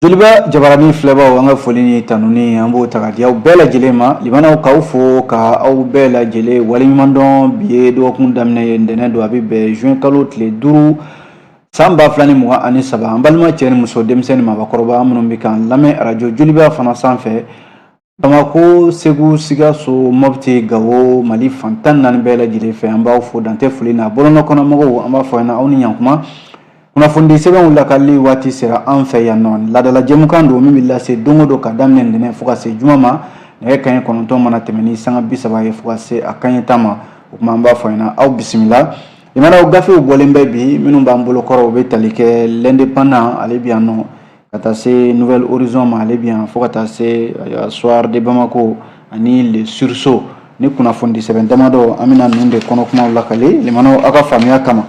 Joliba jabarani filɛbaw an ka foli ni tanuni an b'o ta ka di aw bɛɛ lajɛlen ma limanaw k'aw fo ka aw bɛɛ lajɛlen waleɲumandɔn bi ye dɔgɔkun daminɛ ye ntɛnɛn don a bɛ bɛn juin kalo tile duuru san ba fila ni mugan ani saba an balima cɛ ni muso denmisɛn ni maabakɔrɔba minnu bɛ k'an lamɛn arajo joliba fana sanfɛ Bamakɔ segu sikaso mɔpti gawo mali fan tan ni naani bɛɛ lajɛlen fɛ an b'aw fo dan tɛ foli na bɔlɔnkɔnɔmɔgɔw an b'a fɔ ɲɛna aw ni ɲankuma kunnafoni sɛbɛnw lakali waati sera an fɛ yan nɔ laadala jɛmukan don min bɛ lase don o don ka daminɛ ntɛnɛn fo ka se juma ma nɛgɛ kanɲɛ kɔnɔntɔn mana tɛmɛn ni sanga bi saba ye fo ka se a kanɲɛ tan ma o tuma an b'a fɔ ɲɛna aw bisimila limanaw gafew bɔlen bɛ bi minnu b'an bolo kɔrɔ u bɛ tali kɛ l'indépendant ale bɛ yan nɔ ka taa se nouvel horizon ma ale bɛ yan fo ka taa se euh, soir de Bamako ani le sursaut ni kunnafoni sɛbɛn damadɔ an bɛna ninnu de kɔnɔ kumaw lakale limanaw aw ka faamuya kama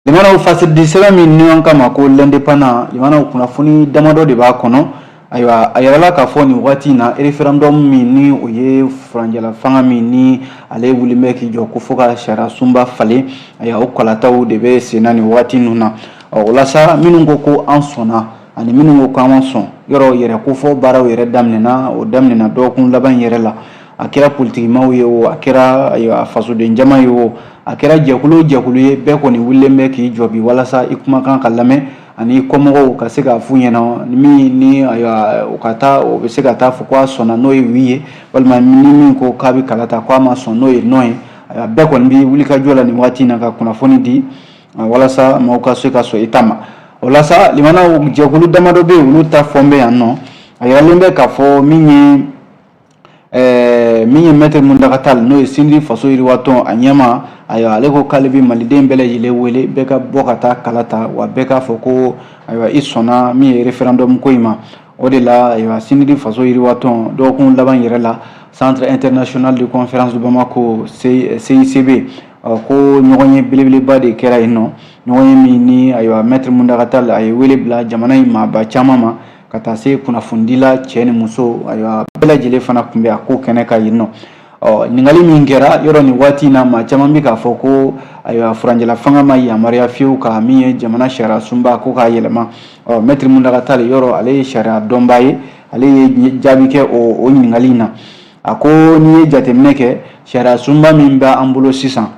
limanaw fasiridi sɛbɛn min ni an k'a ma ko l'indépendant limanaw kunnafoni damadɔ de b'a kɔnɔ ayiwa a yirala k'a fɔ nin waati in na référendum min ni o ye furanjɛla fanga min ni ale wulilen bɛ k'i jɔ ko fo ka sariya sunba falen ayiwa o kalataw de bɛ senna nin waati ninnu na ɔ o la sa minnu ko ko an sɔnna ani minnu ko k'an ma sɔn yɔrɔ yɛrɛ kofɔ baaraw yɛrɛ daminɛna o daminɛna dɔgɔkun laban yɛrɛ la a kɛra politikimaw ye o a kɛra fasoden jama ye o a kɛra jɛkulu o jɛkulu ye bɛɛ kɔni wulilen bɛ k'i jɔ bi walasa i kumakan ka lamɛn ani kɔmɔgɔw ka se k'a f'u ɲɛna min ni u ka taa o bɛ se ka taa fɔ ko a sɔnna n'o ye oui ye walima ni min ko k'a bɛ kala ta k'a ma sɔn n'o ye non ye bɛɛ kɔni bɛ wulikajɔ la nin waati in na ka kunnafoni di walasa maaw ka se ka sɔn i ta ma o la sa limanaw jɛkulu damadɔ bɛ yen olu ta fɔlen bɛ yan nɔ a yiralen bɛ k'a fɔ min ye ɛɛ min ye maître Mountaga Tall n'o ye CNID faso yiriwatɔn a ɲɛmaa ayiwa ale ko k'ale bɛ maliden bɛɛ lajɛlen wele bɛɛ ka bɔ ka taa kala ta wa bɛɛ k'a fɔ ko ayiwa i sɔnna min ye référendum ko in ma O de la ayiwa CNID faso yiriwatɔn dɔgɔkun laban yɛrɛ la centre international de conférence de Bamako CICB ɔ ko ɲɔgɔnye belebeleba de kɛra yen nɔ ɲɔgɔnye min ni ayiwa maître Mountaga Tall a ye wele bila jamana in maaba caman ma ka taa se kunnafonidila cɛ ni muso ayiwa bɛɛ lajɛlen fana tun bɛ a ko kɛnɛ kan yen nɔ Ɔ ɲininkali min kɛra yɔrɔ nin waati na maa caman bɛ k'a fɔ ko ayiwa furanjɛla fanga ma yamaruya fiyewu ka min ye jamana sariya sunba ko k'a yɛlɛma ɔ maître Mountaga Tall yɔrɔ ale ye sariya dɔnbaa ye ale ye jaabi kɛ o ɲininkali in na a ko n'i ye jateminɛ kɛ sariya sunba min bɛ an bolo sisan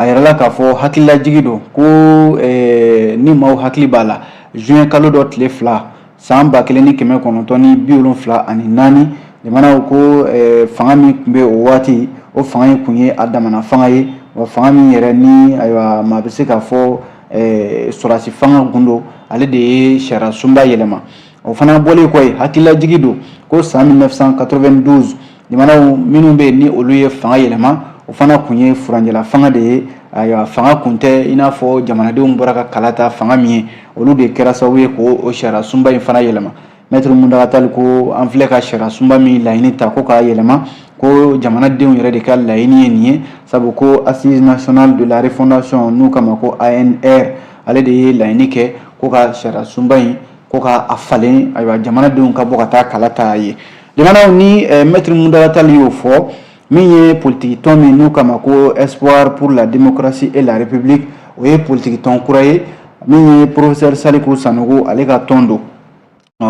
a yirala k'a fɔ hakililajigi don ko eh, ni maaw hakili b'a la juin kalo dɔ tile fila san ba kelen ni kɛmɛ kɔnɔntɔn ni bi wolonfila ani naani limanaw ko eh, fanga min tun bɛ o waati o fanga in tun ye a damana fanga ye wa fanga min yɛrɛ ni ayiwa maa bɛ se k'a fɔ eh, sɔrɔdasi fanga tun don ale de ye sariyasunba yɛlɛma o fana bɔlen kɔ ye hakililajigi don ko san 1992 Limanaw minnu bɛ yen ni olu ye fanga yɛlɛma o fana tun ye furancɛla fanga de ye ayiwa fanga tun tɛ i n'a fɔ jamanadenw bɔra ka kala ta fanga min ye olu de kɛra sababu ye ko o sariya sunba in fana yɛlɛma mɛtiri muntaga tali ko an filɛ ka sariya sunba min laɲini ta ko k'a yɛlɛma ko jamanadenw yɛrɛ de ka laɲini ye nin ye sabu ko assise nationale de la refondation n'u k'a ma ko ANR ale de ye laɲini kɛ ko ka sariya sunba in ko ka a falen ayiwa jamanadenw ka bɔ ka taa kala ta a ye Limanaw ni eh, mɛtiri muntaga tali y'o fɔ min ye politikitɔn min n'u k'a ma ko espoir pour la démocratie et la république o ye politikitɔn kura ye min ye professeur saliku sanogo ale ka tɔn don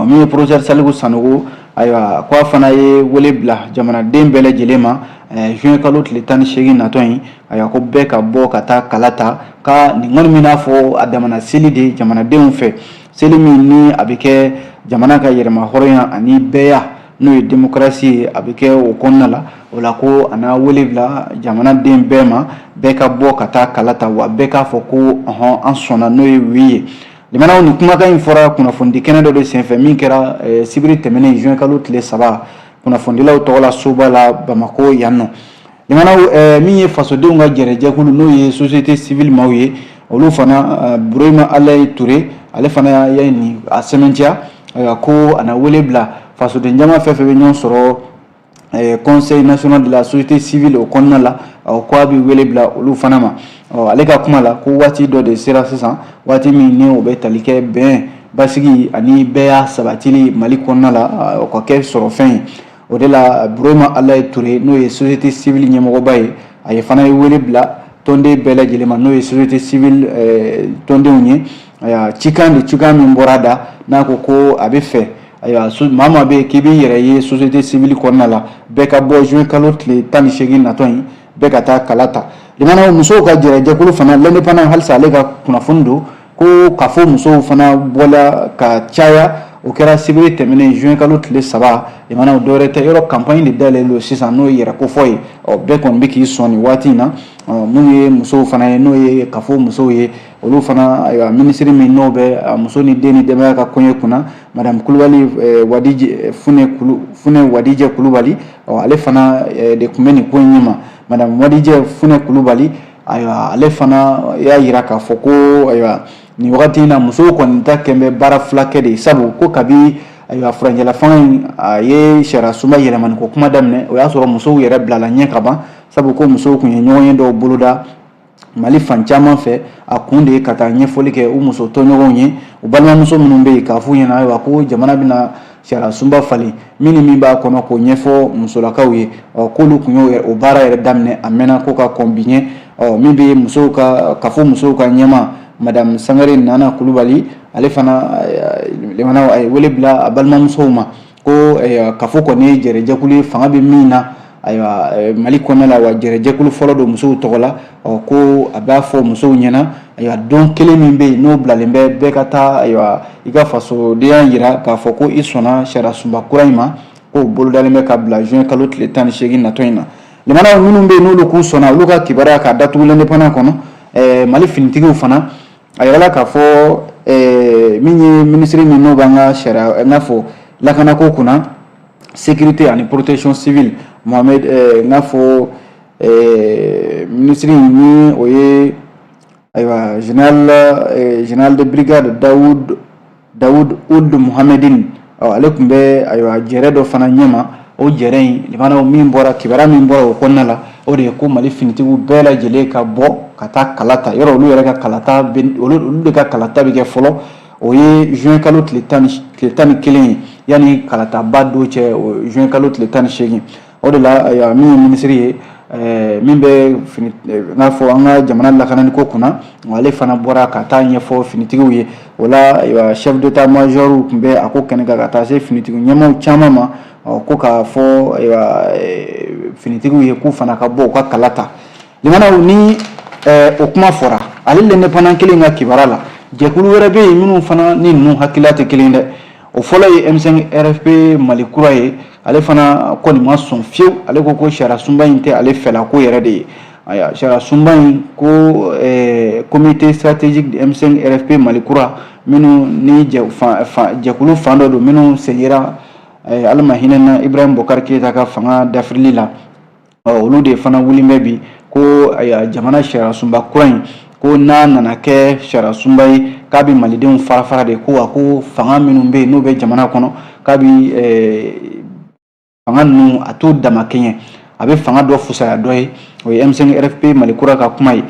min ye professeur saliku sanogo ayiwa ko a fana ye wele bila jamanaden bɛɛ lajɛlen ma eh, juin kalo tile tan ni seegin natɔ in ayiwa ko bɛɛ ka bɔ ka taa kala ta ka nin kɔni b'i n'a fɔ a damana seli de jamanadenw fɛ Seli min ni a bɛ kɛ jamana ka yɛrɛmahɔrɔnya ani bɛɛya n'o ye démocratie ye a bɛ kɛ o kɔnɔna la o la ko a na wele bila jamanaden bɛɛ ma bɛɛ ka bɔ ka taa kala ta wa bɛɛ k'a fɔ ko hɔn an sɔnna n'o ye oui ye limanaw ni kumakan in fɔra kunnafonidi kɛnɛ dɔ de senfɛ min kɛra eh, sibiri tɛmɛnen juin kalo tile saba kunnafonidilaw tɔgɔla soba la bamakɔ yan nɔ Limanaw min ye fasodenw ka jɛrɛjɛkulu n'o ye société civile maaw ye olu fana burama alayi ture ale fana ye nin a sɛmɛntiya ko a na wele bila fasoden jama fɛn fɛn bɛ ɲɔgɔn sɔrɔ conseil national de la société civile o kɔnɔna la k'a bɛ wele bila olu fana ma ɔ ale ka kuma la ko waati dɔ de sera sisan waati min ni o bɛ tali kɛ bɛn basigi ani bɛɛya sabatili mali kɔnɔna la o ka kɛ sɔrɔ fɛn ye o de la burama alayi ture n'o ye société civile ɲɛmɔgɔba ye ale fana ye wele bila tɔnden bɛɛ lajɛlen ma n'o ye société civile eh, tɔndenw ye ayiwa cikan de cikan min bɔra da n'a ko ko a bɛ fɛ ayiwa maa maa bɛ yen k'i b'i yɛrɛ ye société civile kɔnɔna la bɛɛ ka bɔ juin kalo tile tan ni seegin natɔ in bɛɛ ka taa kala ta limanaw musow ka jɛrɛjɛkulu fana l'indépendant halisa ale ka kunnafoni don ko kafo musow fana bɔla ka caya o kɛra sibiri tɛmɛnen juin kalo tile saba limanaw o dɔwɛrɛ tɛ yɔrɔ campagne de dayɛlɛlen don sisan n'o ye yɛrɛ kofɔ ye ɔ bɛɛ kɔni bɛ k'i sɔn nin waati in na minnu ye musow fana ye n'o ye kafo musow ye olu fana ayiwa minisiri min n'o bɛ muso ni den ni denbaya ka koɲɛ kunna madame kulubali wadijɛ fune kulu fune wadijɛ kulubali ɔ ale fana de tun bɛ nin ko in ɲɛma madame wadijɛ fune kulubali Ayiwa ale fana y'a jira k'a fɔ ko ayiwa nin wagati in na musow kɔni ta kɛlen bɛ baara fila kɛ de ye sabu ko kabi ayiwa furancɛlafanga in a ye sariya sunba yɛlɛmani ko kuma daminɛ o y'a sɔrɔ musow yɛrɛ bilala ɲɛ ka ban sabu ko musow tun ye ɲɔgɔnye dɔw boloda mali fan caman fɛ a kun de ye ka taa ɲɛfɔli kɛ u muso tɔɲɔgɔnw ye u balimamuso minnu bɛ yen k'a f'u ɲɛna ayiwa ko jamana bɛna sariya sunba falen min ni min b'a kɔnɔ k'o ɲɛfɔ musolakaw ye ɔ k'olu tun y'o o baara yɛrɛ daminɛ a mɛnna ko ka kɔn bi ɲɛ ɔ min bɛ musow ka CAFO musow ka ɲɛmaa madamu sangare nana kulubali ale fana lamɛnnaw a ye wele bila a balimamusow ma ko CAFO kɔni ye jɛrɛjɛkulu ye fanga bɛ min na ayiwa eh, mali kɔnɔna la wa jɛrɛjɛkulu fɔlɔ don musow tɔgɔ la ɔ ko a b'a fɔ musow ɲɛna ayiwa don kelen min bɛ yen n'o bilalen bɛ bɛɛ ka taa ayiwa i ka fasodenya jira k'a fɔ ko i sɔnna sariya sunba kura in ma k'o bolodalen bɛ ka bila juin kalo tile tan ni seegin natɔ in na lamɛnnaw minnu bɛ yen n'olu k'u sɔnna olu ka kibaruya k'a datugu l'indépendant kɔnɔ eh, mali finitigiw fana a jirala k'a fɔ eh, min ye minisiri min n'o b'an ka sariya i n'a fɔ lakanako kunna sécurité ani protection civile mohamed n k'a fɔ minisiri in ni o ye ayiwa général général de brigade Daoud Daoud Ould Mohamedine ale tun bɛ ayiwa jɛrɛ dɔ fana ɲɛma o jɛrɛ in lamɛnnaw min bɔra kibaruya min bɔra o kɔnɔna la o de ye ko mali finitigiw bɛɛ lajɛlen ka bɔ ka taa kalata yɔrɔ olu yɛrɛ ka kalata olu de ka kalata bɛ kɛ fɔlɔ o ye juin kalo tile tan ni kelen ye yanni kalataba don cɛ juin kalo tile tan ni seegin o de la min ye minisiri ye eh, min bɛ fini eh, n'a fɔ an ka jamana lakanani ko kunna ale fana bɔra ka taa ɲɛfɔ finitigiw ye o la chef d'état major tun bɛ a ko kɛnɛ kan ka taa se finitigiw ɲɛmaaw caman ma ko k'a fɔ eh, finitigiw ye k'u fana ka bɔ u ka kala ta Lamɛnnaw ni ɛɛ o kuma fɔra ale l'indépendant kelen ka kibaruya la jɛkulu wɛrɛ bɛ yen minnu fana ni ninnu hakilila tɛ kelen dɛ o fɔlɔ ye M5 RFP Mali kura ye ale fana kɔni ma sɔn fewu ale ko ko sariya sunba in tɛ ale fɛlako yɛrɛ de ye ayiwa sariya sunba in ko ɛɛ comité stratégique de M5 RFP Mali kura minnu ni jɛ fan fan jɛkulu fan dɔ don minnu segira ɛɛ Ala ma hinɛ a la Ibrahim Bokari Keyita ka fanga dafirili la ɔ olu de fana wulilen bɛ bi ko jamana sariyasunba kura in ko n'a nana kɛ sariyasunba ye k'a bɛ malidenw farafara de ko wa ko fanga minnu bɛ yen n'o bɛ jamana kɔnɔ k'a bɛ fanga ninnu a t'u damakɛɲɛ a bɛ fanga dɔ fusaya dɔ ye o ye M5 RFP mali kura ka kuma ye.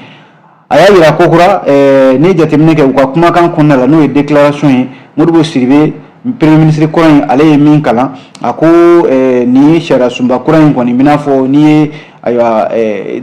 a y'a yira kokura eh, ni jateminɛ kɛ u ka kumakan kɔnɔna la n'o ye déclaration ye Modibo Sidibe premier ministre kura in ale ye min kalan a ko eh, nin ye sariya sunba kura in kɔni bɛ n'a fɔ nin ye ayiwa eh,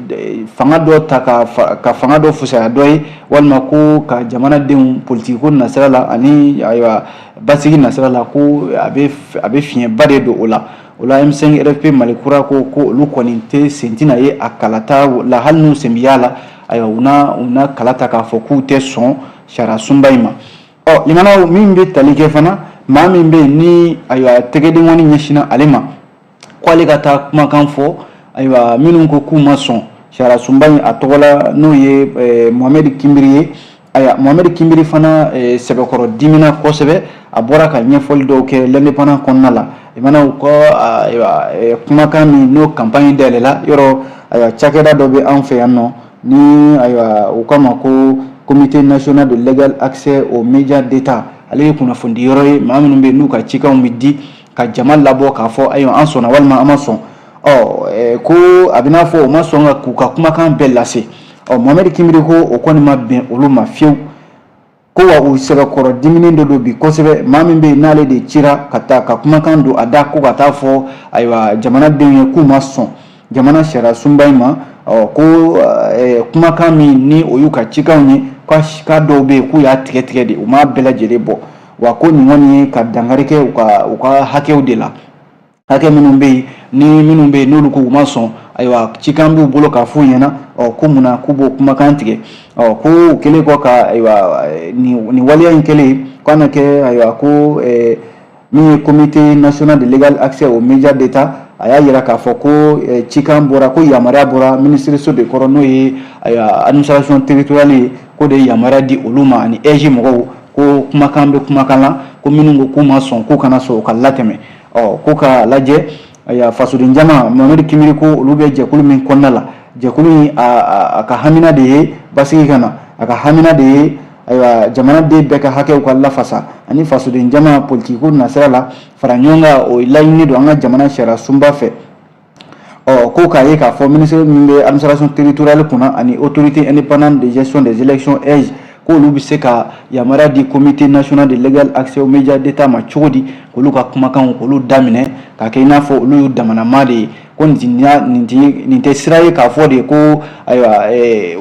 fanga dɔ ta ka, ka fanga dɔ fusaya dɔ ye walima ko ka jamanadenw politikiko nasira la ani ayiwa basigi nasira la ko a bɛ fiɲɛba de don o la O la M5 RFP mali kura ko ko olu kɔni tɛ sen tɛna ye a kalata la hali n'u sen bɛ y'a la ayiwa u u na kala ta k'a fɔ k'u tɛ sɔn sariya sunba in ma ɔ limama min bɛ tali kɛ fana maa min bɛ yen ni ayiwa tɛgɛdenkɔni ɲɛsinna ale ma k'ale ka taa kumakan fɔ ayiwa minnu ko k'u ma sɔn sariya sunba in a tɔgɔ la n'o ye Mohamed Kimbiri ye Ayiwa Mohamed Kimbiri fana sɛbɛkɔrɔ dimina kosɛbɛ, a bɔra ka ɲɛfɔli dɔw kɛ l'Indépendant kɔnɔna la, limama u ka kumakan min n'o campagne dayɛlɛ la, yɔrɔ ayiwa cakɛda dɔ bɛ an fɛ yan nɔ ni ayiwa u k'a ma ko comité national de l'égal accès aux médias d'Etat ale ye kunnafonidiyɔrɔ ye maa minnu bɛ yen n'u ka cikanw bɛ di ka jama labɔ k'a fɔ ayiwa an sɔnna walima an ma sɔn. ɔ ko a bɛ n'a fɔ o ma sɔn ka k'u ka kumakan bɛɛ lase ɔ Mohamed Kimbiri ko o kɔni ma bɛn olu ma fiyewu ko wa u sɛbɛkɔrɔ diminen dɔ don bi kosɛbɛ maa min bɛ yen n'ale de cira ka taa ka kumakan don a da ko ka taa fɔ ayiwa jamanadenw ye k'u ma sɔn jamana sariya sunba in ma ɔ ko kumakan min ni o y'u ka cikanw ye k'a dɔw bɛ yen k'u y'a tigɛ tigɛ de u m'a bɛɛ lajɛlen bɔ wa ko nin kɔni ye ka dankari kɛ u ka u ka hakɛw de la hakɛ minnu bɛ yen ni minnu bɛ yen n'olu ko u ma sɔn ayiwa cikan b'u bolo k'a f'u ɲɛna ɔ ko mun na k'u b'o kumakan tigɛ ɔ ko u kɛlen kɔ ka ayiwa nin waleya in kɛlen k'a na kɛ ayiwa ko ɛɛ min ye comité national de l'égal accès aux médias d'état a y'a yira k'a fɔ ko eh, cikan bɔra ko yamaruya bɔra minisiriso de kɔrɔ n'o ye administration territoriale ye k'o de ye yamaruya di olu ma ani AIGE mɔgɔw ko kumakan bɛ kumakan la ko minnu ko k'u ma sɔn k'u kana sɔn u ka latɛmɛ ɔ ko k'a lajɛ fasoden jama Mohamed Kimbiri ko olu bɛ jɛkulu min kɔnɔna la jɛkulu in a ka hamina de ye basigi ka na a ka hamina de ye ayiwa jamanaden bɛɛ ka hakɛw ka lafasa ani fasoden jama politikiko nasira la fara ɲɔgɔn kan o laɲini don an ka jamana sariya sunba fɛ ɔ ko k'a ye k'a fɔ minisiri min bɛ administration territoriale kunna ani autorité indépendante de gestion des élections AIGE k'olu bɛ se ka yamaruya di comité national de l'égal accès aux médias d'état ma cogo di k'olu ka kumakanw k'olu daminɛ k'a kɛ i n'a fɔ olu y'u damanama de ye ko nin tɛ sira ye k'a fɔ de ko ayiwa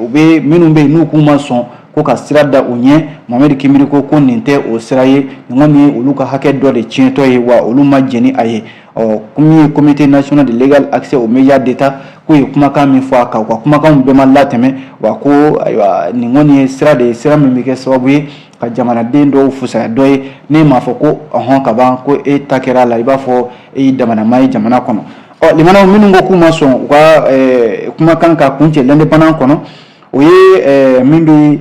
u bɛ minnu bɛ yen n'u k'u ma sɔn ko ka sira da u ɲɛ Mohamed Kimbiri ko ko nin tɛ o sira ye nin kɔni ye olu ka hakɛ dɔ de tiɲɛtɔ ye wa olu ma jɛn n'a ye ɔ min ye comité national de l'égal accès aux médias d'état k'u ye kumakan min fɔ a kan u ka kumakanw bɛɛ ma latɛmɛ wa ko ayiwa nin kɔni ye sira de ye sira min bɛ kɛ sababu ye ka jamanaden dɔw fusaya dɔ ye ne m'a fɔ ko ɔhɔn ka ban ko e ta kɛra a la i b'a fɔ e y'i damana maa ye jamana kɔnɔ ɔ limanaw minnu ko k'u ma sɔn u ka kumakan ka kuncɛ l'indépendant kɔnɔ o ye min bɛ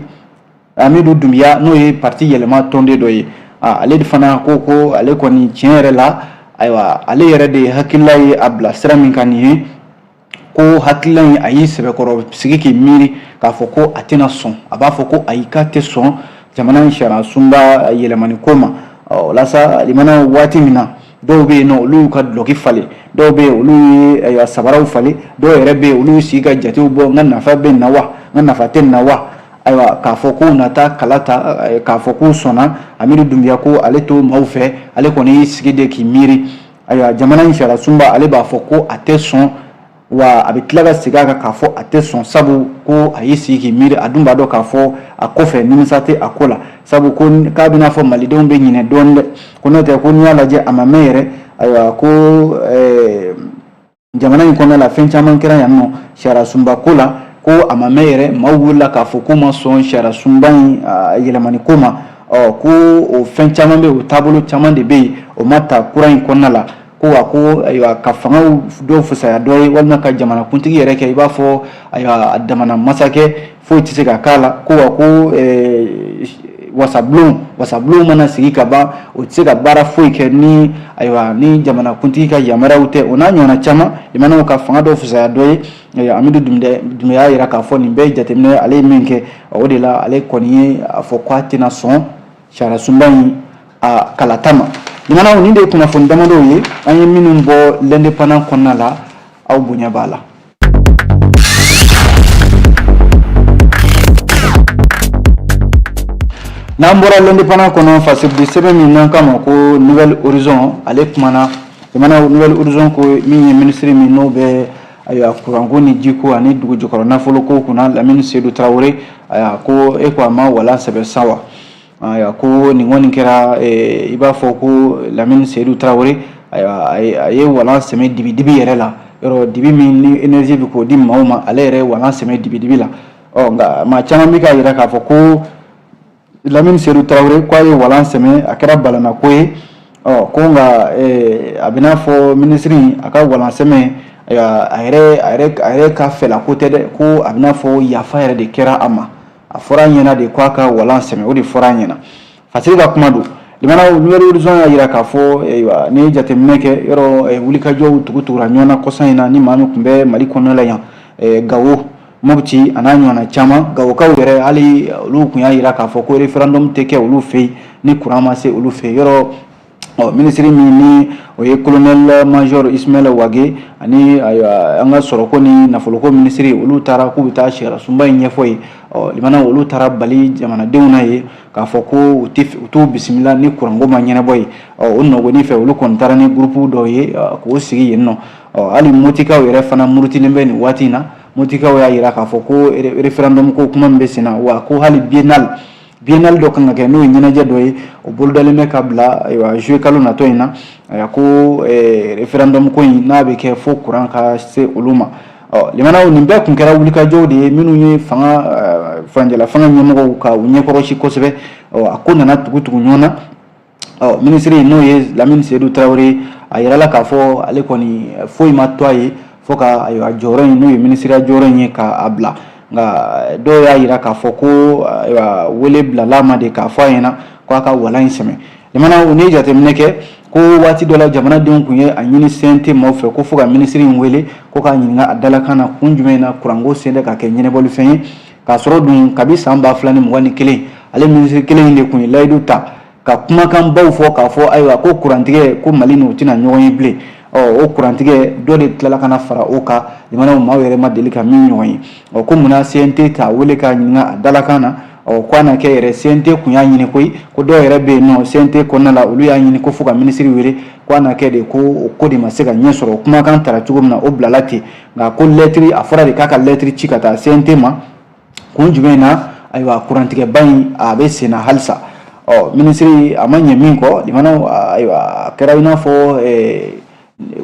amidu dunbiya n'o ye parti yɛlɛma tɔnden dɔ ye ale de fana ko ko ale kɔni tiɲɛ yɛrɛ la ayiwa ale yɛrɛ de hakilila ye a bila sira min kan nin ye ko hakilila in a y'i sɛbɛkɔrɔ sigi k'i miiri k'a fɔ ko a tɛna sɔn a b'a fɔ ko ayi k'a tɛ sɔn jamana in sariyasunba yɛlɛmani ko ma walasa limana waati min na dɔw bɛ yen nɔ olu y'u ka dulɔki falen dɔw bɛ yen olu ye ayiwa sabaraw falen dɔw yɛrɛ bɛ yen olu y'u sigi ka jatew bɔ n ka nafa bɛ nin na wa n ka nafa tɛ nin na wa ayiwa k'a fɔ k'u na taa kala ta k'a fɔ k'u sɔnna amidu dunbiya ko ale t'o maaw fɛ ale kɔni y'i sigi de k'i miiri ayiwa jamana in sariyasunba ale b'a fɔ ko a tɛ sɔn wa a bɛ tila ka segin a kan k'a fɔ a tɛ sɔn sabu ko a y'i sigi k'i miiri a dun b'a dɔn k'a fɔ a kɔfɛ nimisa tɛ a ko la sabu ko k'a bɛ n'a fɔ malidenw bɛ ɲinɛ dɔɔnin dɛ ko n'o tɛ ko n'i y'a lajɛ a ma mɛn yɛrɛ ayiwa ko eh, jamana in kɔnɔna la fɛn caman kɛra yan nɔ sariya sunba ko la ko a ma mɛn yɛrɛ maaw wulila k'a fɔ k'u ma sɔn sariya sunba in ah, yɛlɛmani ko ma ɔ ko o fɛn caman bɛ yen o taabolo caman de bɛ yen o ma ta kura in kɔnɔna la ko wa ko ayiwa ka fanga dɔw fusaya dɔ ye walima ka jamanakuntigi yɛrɛ kɛ i b'a fɔ ayiwa a damana masakɛ foyi tɛ se ka k'a la ko wa ko wasabulon wasabulon mana sigi ka ban o tɛ se ka baara foyi kɛ ni ayiwa ni jamanakuntigi ka yamaruyaw tɛ o n'a ɲɔgɔnna caman jamanaw ka fanga dɔw fusaya dɔ ye amidu dunbiya y'a yira k'a fɔ nin bɛɛ jateminɛ ale ye min kɛ o de la ale kɔni ye a fɔ k'a tɛna sɔn sariyasunba in a kalata ma jamanaw nin de ye kunnafoni damadɔw ye an ye minnu bɔ l'indépendant kɔnɔna la aw bonya b'a la n'an bɔra l'indépendant kɔnɔ fasiridi sɛbɛn min n'an k'a ma ko nouvel horizon ale kumana jamana nouvel horizon ko min ye minisiri min n'o bɛ ayiwa kuranko ni jiko ani dugujukɔrɔ nafoloko kunna lamini sedu tarawele ayiwa ko e ko a ma walan sɛmɛ sa wa Ayiwa ko nin kɔni kɛra i b'a fɔ ko lamini sedu tarawele ayiwa a ye walan sɛmɛ dibi dibi yɛrɛ la yɔrɔ dibi min ni énergie bɛ k'o di maaw ma ale yɛrɛ walan sɛmɛ dibi dibi la ɔ nka maa caman bɛ k'a yira k'a fɔ ko lamini sedu tarawele k'a ye walan sɛmɛ a kɛra balannako ye ɔ ko nka a bɛ n'a fɔ minisiri a ka walan sɛmɛ a yɛrɛ ka fɛla ko tɛ dɛ ko a bɛ n'a fɔ yafa yɛrɛ de kɛra a ma a fɔra a ɲɛna de k'a ka walan sɛmɛ o de fɔra a ɲɛna fasiri ka kuma don limanaw nouvelle horizon y'a jira k'a fɔ ayiwa n'i ye jateminɛ kɛ yɔrɔ wulikajɔw tugu tugura ɲɔgɔn na kɔsa in na ni maa min kun bɛ mali kɔnɔna la yan gawo mopti a n'a ɲɔgɔnna caman gawokaw yɛrɛ hali olu kun y'a jira k'a fɔ ko referendum tɛ kɛ olu fɛ yen ni kuran ma se olu fɛ yen yɔrɔ ɔ minisiri min ni o ye kolonɛli major ismail wage ani an ka sɔrɔko ni nafoloko minisiri olu taara k'u bɛ taa sariyasunba in ɲɛfɔ yen ɔ limanaw olu taara bali jamanadenw na ye k'a fɔ ko u t'u bisimila ni kuranko ma ɲɛnabɔ yen ɔ o nɔgɔni fɛ olu kɔni taara ni gurupu dɔw ye k'o sigi yen nɔ ɔ hali motikaw yɛrɛ fana murutilen bɛ nin waati in na motikaw y'a jira k'a fɔ ko referendum ko kuma min bɛ sen na wa ko hali biennale bienal dɔ kan ka kɛ n'o ye ɲɛnajɛ dɔ ye o bolodalen bɛ ka bila ayiwa juillet kalo natɔ in na ko eh, referendum ko in n'a bɛ kɛ fo kuran ka se olu ma ɔ limanaw nin bɛɛ kun kɛra wulikajɔw de ye minnu ye fanga eh, furancɛla fanga ɲɛmɔgɔw ka u ɲɛkɔrɔsi kosɛbɛ ɔ a ko nana tugu tugu ɲɔgɔn na ɔ minisiri n'o ye lamini seyidu tarawele a yirala k'a fɔ ale kɔni foyi ma to a ye fo ka ayiwa jɔyɔrɔ in n'o ye minisiriya jɔyɔrɔ in ye k'a bila nka dɔw y'a yira k'a fɔ ko ayiwa wele bilala a ma de k'a fɔ a ɲɛna ko a ka walan in sɛmɛ limanaw ni jateminɛ kɛ ko waati dɔ la jamanadenw kun ye a ɲini CNT maaw fɛ ko fo ka minisiri in wele ko k'a ɲininka a dalakan na kun jumɛn na kuranko selen tɛ ka kɛ ɲɛnɛbɔlifɛn ye k'a sɔrɔ dun kabi san ba fila ni mugan ni kelen ale minisiri kelen in de kun ye layidu ta ka kumakan baw fɔ k'a fɔ ayiwa ko kurantigɛ ko mali n'o tɛna ɲɔgɔn ye bilen ɔ o kurantigɛ dɔ de tilala ka na fara o kan limanaw maaw yɛrɛ ma deli ka min ɲɔgɔn ye ɔ ko munna cnt t'a wele k'a ɲininka a dalakan na ɔ ko a na kɛ yɛrɛ cnt kun y'a ɲini koyi ko dɔw yɛrɛ bɛ yen nɔ cnt kɔnɔna la olu y'a ɲini ko fo ka minisiri wele ko a na kɛ de ko o ko de ma se ka ɲɛ sɔrɔ kumakan tara cogo min na o bilala ten nka ko lɛtiri a fɔra de k'a ka lɛtiri ci ka taa CNT ma kun jumɛn na ayiwa kurantigɛba in a bɛ sen na halisa ɔ minisiri a ma ɲɛ min kɔ limanaw ayiwa a kɛra i n'a fɔ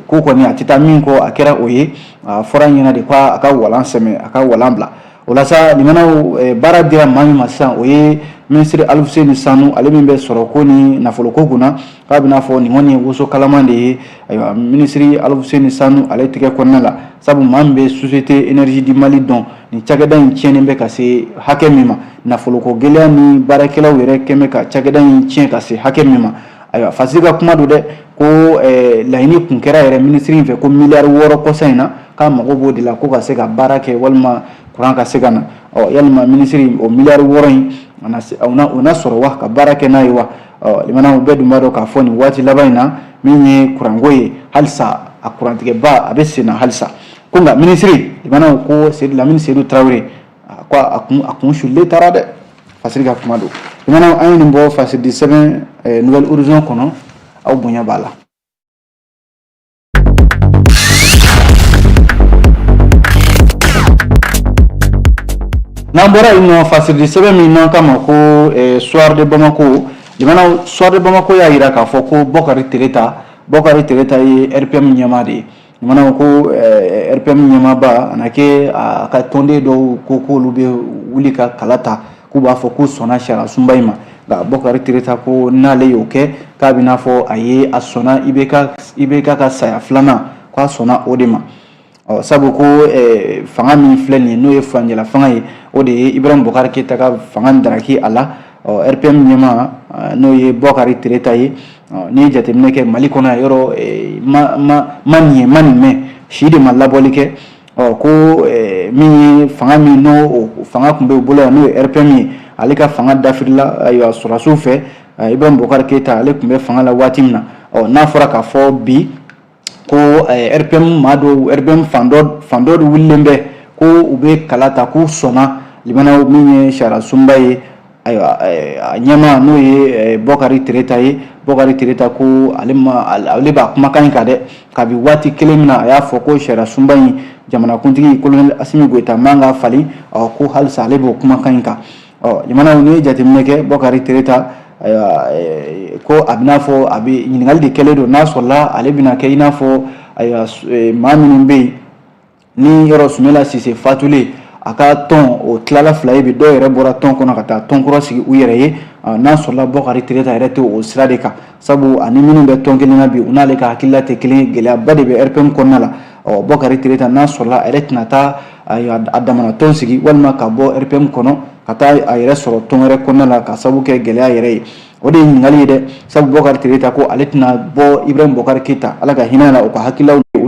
ko kɔni a tɛ taa min kɔ a kɛra o ye a fɔra a ɲɛna de ko a ka walan sɛmɛ a ka walan bila o la sa limanaw baara dira maa min ma sisan o ye minisiri alifuseni sanu ale min bɛ sɔrɔko ni nafoloko kunna k'a bɛn'a fɔ nin kɔni ye woso kalaman de ye ayiwa minisiri alifuseni sanu ale tɛgɛ kɔnɔna la sabu maa min bɛ société énergie du mali dɔn nin cakɛda in tiɲɛnen bɛ ka se hakɛ min ma nafoloko gɛlɛya ni baarakɛlaw yɛrɛ kɛlen bɛ ka cakɛda in tiɲɛ ka se hakɛ min ma ayiwa fasi ka kuma don dɛ ko eh, laɲini kun kɛra yɛrɛ minisiri in fɛ ko miliyari wɔɔrɔ kɔsa in na k'a mago b'o de la ko ka se ka baara kɛ walima kuran ka se ka na ɔ yalima minisiri o miliyari wɔɔrɔ in o na sɔrɔ wa ka baara kɛ n'a ye wa ɔ limanaw bɛɛ dun b'a dɔn k'a fɔ nin waati laban in na min ye kuranko ye halisa a kurantigɛba a bɛ sen na halisa ko nka minisiri limanaw ko lamini sedu tarawele a ko a kun a kun sulen taara dɛ fasiri ka kuma don lamɛnnaw an ye nin bɔ fasiridi sɛbɛn eh, nouvel horizon kɔnɔ aw bonya b'a la n'an bɔra yen nɔ fasiridi sɛbɛn min n'an k'a ma ko eh, soir de bamako lamɛnnaw soir de bamako y'a jira k'a fɔ ko bɔkari tereta bɔkari tereta ye rpm ɲɛmaa de ye lamɛnnaw ko rpm ɲɛmaaba a na kɛ a ka tɔnden dɔw ko k'olu bɛ wuli ka kala ta k'u b'a fɔ k'u sɔnna sariyasunba in ma nka Bɔkari Tereta ko n'ale y'o kɛ k'a bɛ n'a fɔ a ye a sɔnna IBK ka saya filanan k'a sɔnna o de ma ɔ sabu ko fanga min filɛ nin ye n'o ye furancɛlafanga ye o de ye Ibrahim Boubacar Keita ka fanga daraki a la. ɔ rpm ɲɛmaa n'o ye bɔkari tereta ye n'i ye jateminɛ kɛ mali kɔnɔ yan yɔrɔ e, ma ma ma nin ye ma nin mɛn si de ma labɔli kɛ ɔ ko e, min ye fanga min n'o fanga tun b'o bolo yan n'o ye rpm ye ale ka fanga dafirila ayiwa sɔrɔdasiw fɛ ibrahim boubacar keyita ale tun bɛ fanga la waati min na ɔ n'a fɔra k'a fɔ bi ko rpm maa dɔw rpm fan dɔ de wililen bɛ ko u bɛ kala ta k'u sɔnna lamɛnnaw min ye sariya sunba ye ayiwa a ɲɛmaa n'o ye bɔkari tereta ye bɔkari tereta ko ale b'a kumakan in kan dɛ kabi waati kelen min na a y'a fɔ ko sariya sunba in jamanakuntigi kolonɛli asimi goyita man k'a falen ko halisa ale b'o kumakan in kan ɔ lamɛnnaw n'i ye jateminɛ kɛ bɔkari tereta ayiwa eh, ko a bɛ n'a fɔ a bɛ ɲininkali de kɛlen don n'a sɔrɔla ale bɛna kɛ i n'a fɔ ayiwa eh, maa minnu bɛ yen ni yɔrɔ sumela sise fatulen a ka tɔn o tilala fila ye bi dɔw yɛrɛ bɔra tɔn kɔnɔ ka taa tɔn kura sigi u yɛrɛ ye n'a sɔrɔla bɔkari tereta yɛrɛ tɛ o sira de kan sabu ani minnu bɛ tɔn kelen na bi u n'ale ka hakilila tɛ kelen gɛlɛyaba de bɛ rpm kɔnɔna la ɔ bɔkari tereta n'a sɔrɔla a yɛrɛ tɛna taa a damana tɔn sigi walima ka bɔ rpm kɔnɔ ka taa a yɛrɛ sɔrɔ tɔn wɛrɛ kɔnɔna la ka sabu kɛ gɛlɛya yɛrɛ ye o de ye ɲininkali ye dɛ sabu bɔkari tereta ko ale tɛna bɔ ibrahim boubacar keyita ala ka hinɛ a la o ka hakililaw